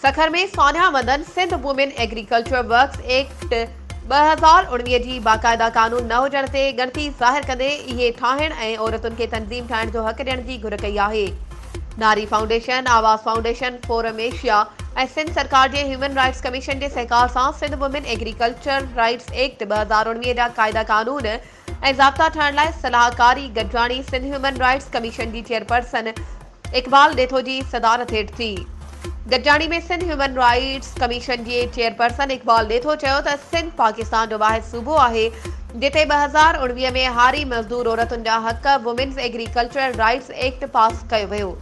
سکر ۾ سانحا مندن Sindh women agriculture works act ٻه هزار اڻويهه جي باقاعده قانون نه هجڻ تي ڳڻتي ظاهر ڪندي اهي ٺاهڻ ۽ عورتن کي تنظيم ٺاهڻ جو حق ڏيڻ جي گهر ڪئي آهي Nari foundation, Awaz foundation, forum Asia ۽ Sindh سرڪار جي هيومن رائٽس ڪميشن جي سهڪار سان Sindh women agriculture rights act ٻه هزار اڻويهه جا قاعدا قانون ۽ ضابطا ٺاهڻ لاء صلاحڪاري گڏجاڻي سنڌ هيومن رائٽس ڪميشن جي چيئرپرسن اقبال ڏيٿو جي صدارت هيٺ ٿي. گڏجاڻي ۾ سنڌ هيومن رائيٽس ڪميشن جي چيئرپرسن اقبال ڏيٿو چيو ته سنڌ پاڪستان جو واحد صوبو آهي جتي ٻه هزار اڻويهه ۾ هاري مزدور عورتن جا حق women's agricultural rights act pass ڪيو ويو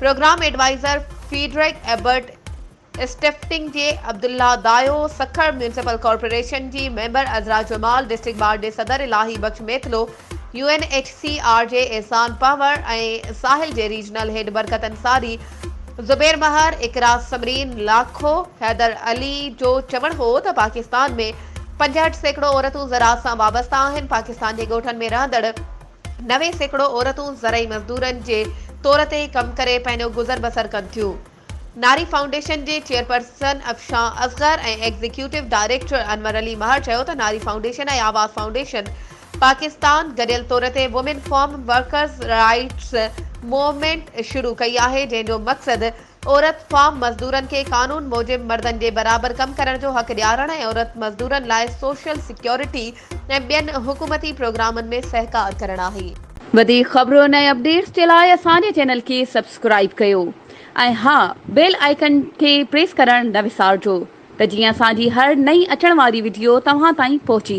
programme adviser Friedrich Ebert Stiftung جي عبدالله دايو سکر ميونسپل ڪارپوريشن جي member Azra Jamal district bar جي صدر Ilahi Bux Mitlo U N H C R جي احسان پنهور ۽ ساحل جي ريجنل هيڊ برڪت انصاري، زبير مهر، اقرا ثمرين، لاکو حيدر علي جو چوڻ هو ته پاڪستان ۾ پنجهٺ سيڪڙو عورتون زراعت سان وابسته آهن، پاڪستان جي ڳوٺن ۾ رهندڙ نوي سيڪڙو عورتون زرعي مزدورن جي طور تي ڪم ڪري پنهنجو گذر بسر ڪن ٿيون. ناري فائونڊيشن جي chairperson Afshan Asghar ۽ executive director Anwar Ali Mehar چيو ته ناري فائونڊيشن ۽ آواز فائونڊيشن پاڪستان گڏيل طور تي women farm workers rights movement شروع ڪئي آهي جنهن جو مقصد عورت فارم مزدورن کي قانون موجب مردن جي برابر ڪم ڪرڻ جو حق ڏيارڻ ۽ عورت مزدورن لاء سوشل سيڪيورٽي ۽ ٻين حڪومتي پروگرامن ۾ سهڪار ڪرڻ آهي. وڌيڪ خبرون ۽ اپڊيٽس جي لاء اسان جي چينل کي سبسڪرائيب ڪيو. ۽ ها بيل آئيڪن کي پريس ڪرڻ نه وسارجو ته جيئن اسان جي هر نئين اچڻ واري وڊيو توهان تائين پهچي